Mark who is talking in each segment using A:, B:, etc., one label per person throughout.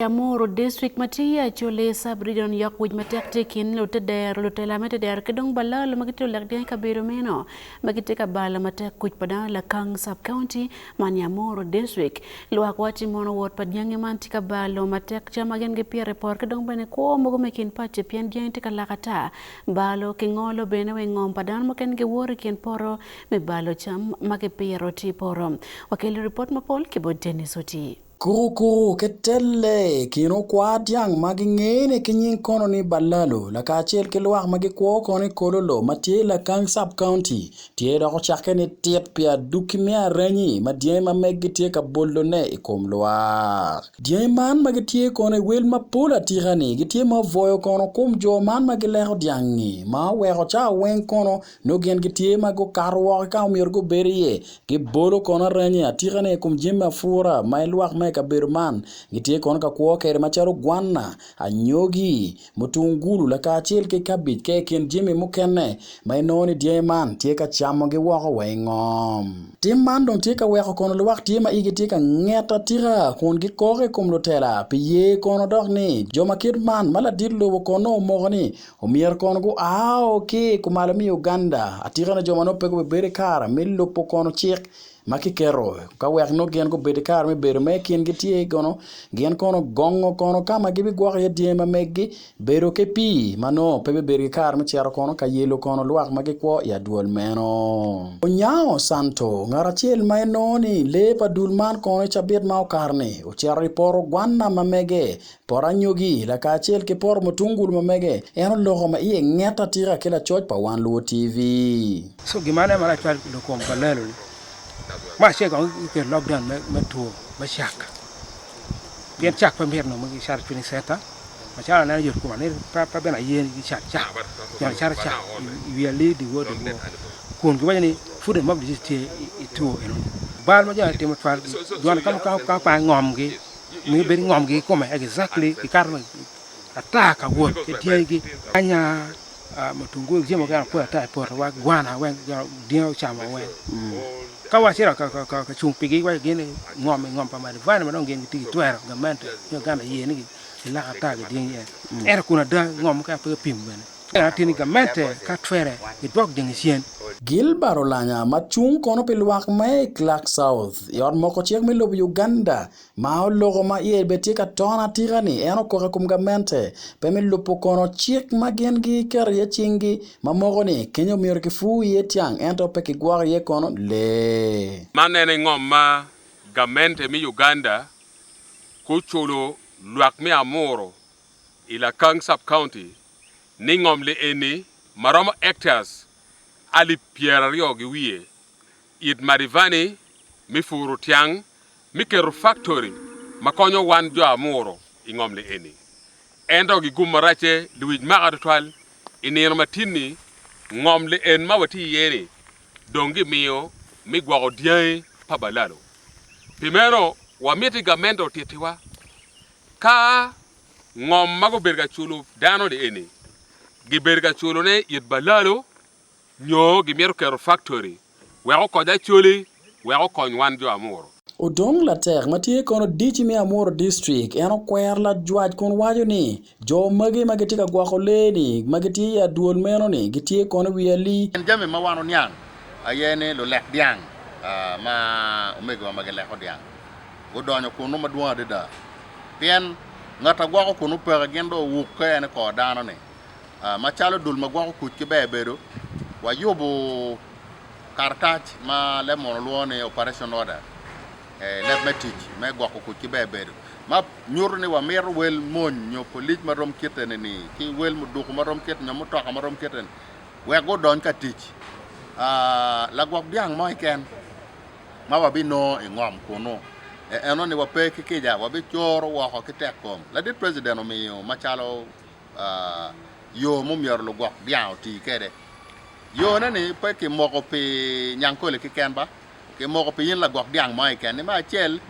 A: I Amuru, District ma tye i Acholi Sub-Region, yok wic matek tye i kin lute dero, lutela me tedero ki dong balalo ma gitye lulek dyang i kabedo meno ma gitye ka balo matek kuc pa dano i Lakang Sub-County man i Amuru District. Lwak wacci mono wot pa dyangi man tye ka balo matek cam ma gin gipito i poto ki dong bene kwo mogo me kin paco pien dyangi tye ka lak ata. Balo ki ngolo bene wa i ngom pa dano mukene giwoto i kin poto me balo cam ma gipito tye i poto. Wakelo ripot mapol ki bot Denis Otii. Kurukuku
B: Ketelle i kin okwar dyang ma gingene ki nying kono ni Balalo lakacel ki lwak ma gikwo kono i Kololo ma tye i Lakang Sub County tye dok ocakke ni tit pi aduki me arenyi ma dyangi ma meggi tye ka bolone i kom lwak. Dyangi man ma gitye kono i wel mapol atika ni gitye ma obwoyo kono kom jo man ma gileko dyangi ma oweko cawa weng kono Nongo gin gitye ma gukato woko ki ka ma omyero gubed iye, gibolo kono aranye atikane i kom jami apura ma ilwak ma i kabedo man gitye kono ka kwo kwede macalo gwanna, anyogi, mutungulu lakacel ki kabej ka i kin jami mukene ma inongo ni dyangi man tye ka camogi woko wa i ngom. Tim man dong tye ka weko kono luwak tye ma igi tye ka nget atika kun gikok i kom lutela pi ye kono dok ni jo ma kit man ma ladit lobo kono nongo omoko ni Omyero kono guao ki i kumalo me Uganda atika ni jo ma nongo pe gubibedo ki kare me lubo kono cik ma kiketo ka wek nongo gin gubedo ki kare me bedo ma i kingi tye i kono gin kono gongo kono ka ma gibigwoko iye dyangi ma megi bedo ki pii ma nongo pe bibedo ki kare me cito kono ka yelo kono lwak ma gikwo i adwol meno. Onyango Santo, ngat acel ma en nongo ni lee pa dul man kono i cabit ma okato-ni ocito i poto gwanna ma mege Pot anyogi, lakacel ki poto mutungulu ma mege, en oloko ma iye nget atika ki lacoc pa Wan Luo TV. So gin ma aneno malac
C: twal i dog kom pa lelo ni me acel kong ki keto lock down me two me cak pien cak pe myero nongo ki cato training center macalo aneno yot koma ni pe bene aye ni ki cat cak pien acato cak i wi ali diwor diwor kun gi waco ni food and mouth disease tye i two eno ni bal ma jo aye timo twal dwan ka ma kong opang ngom gi miyo bedo ingomgi ikome exactly gikato ata ka wot ki dyegi nyanya mutungulu jami mukene apoto ata ipoto wa gwana weng dyangi gucamo weng ka wacito ka cung pigi iwaco gin ni ngom ingom pa madivine madong gin gitye gitwero gamente nyo gana iye ni giloko ata ki dyangi ento kun ada ngom mukene pe kipimo bene. Pien ateni gamente ka twere i dwok Jenicien. Gilbert Olanya
B: ma cung kono pi lwak me i Clark South i ot moko cik me lobo Uganda ma oloko ma iye bene tye ka ton atika ni en okoko i kom gamente pe me lubo kono cik ma gin gi keto iye cing gi ma moko ni kenya omyero ki pur iye tyang ento pe ki gwoko iye kono lee. Man en aye ngom
D: ma gamente me Uganda guculo lwak me amuru I Lakang Sub-County, ningom li eni ma romo hectares alip pyeraryo gi wiye, it Madivani me puru tyang me keto faktori ma konyo wan jo amuru i ngom li eni. Ento gi gum maracce liwic maka tutwal, i nino matin-ni, ngom li en ma watye iye-ni dong gimiyo me gwoko dyangi pa balalo. Pi meno, wamiti gamente otittiwa Ka ngom ma gubedo ka culo dano-ni eni gibedo ka culone it balalo nyo gimito keto faktori wek okony Acholi wek okony wan jo Amuru. Odong Latek
B: ma tye kono DC me Amuru District en okwero lajwac kun waco ni jo magi ma gitye ka gwoko lee-ni ma gitye i adwol meno-ni gitye kono i wi ali. Min jami ma wan oniang
E: aye ni lulek dyang ma omegowa ma gileko dyang odonyo kunnu madwong adada, pien ngat a gwoko kunnu peke gin dong owukke en i kor dano-ni. Macalo dul ma gwoko kuc ki ber bedo, wayubo karatac ma leb munu lwongo ni Operation Order, Leb me Tic me Gwoko Kuc ki Ber Bedo, ma nyuto ni wamito wel mony nyo polic ma rom kite-ni, ki wel muduku ma rom kite-ni, nyo mutoka ma rom kite-ni, wek gudony ka tic. Lagwok dyang mo keken. ma wabinongo i ngom kunnu, e eno ni wape ki kica, wabicoro woko ki tekkom. Ladit President omiyo macalo yo mumyero lugwok dyang oti kwede. Yone ni pe kimoko pi Nyankole kiken ba, kimoko pi in lagwok dyang mo kiken ni me acel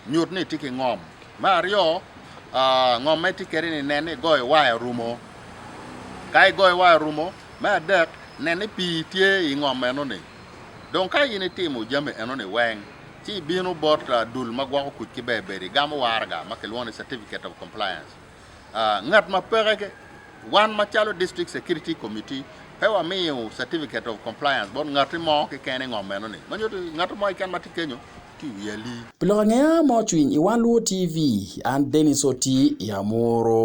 E: nyut ni itye ki ngom, me aryo ngom ma itye kwede ni nen ni igoyo waya orumo, ka igoyo waya orumo, me adek nen ni pii tye i ngom eno ni Dong ka in itimo jami enoni weng, ci ibino bot dul ma gwoko kuc ki bebedo igamo waraga ma kilwongo ni Certificate of Compliance. Ngat ma peke, Wan macalo District Security Committee, pe wamiyo Certificate of Compliance bot ngati mo keken i ngom enoni. Ma nyuto ni, ngati mo keken ma tye kenyo tye i wi ali. Pi lok
B: angeya ma ocwiny i Wan Luwo TV,
E: an
B: Dennis Oti i Amuru.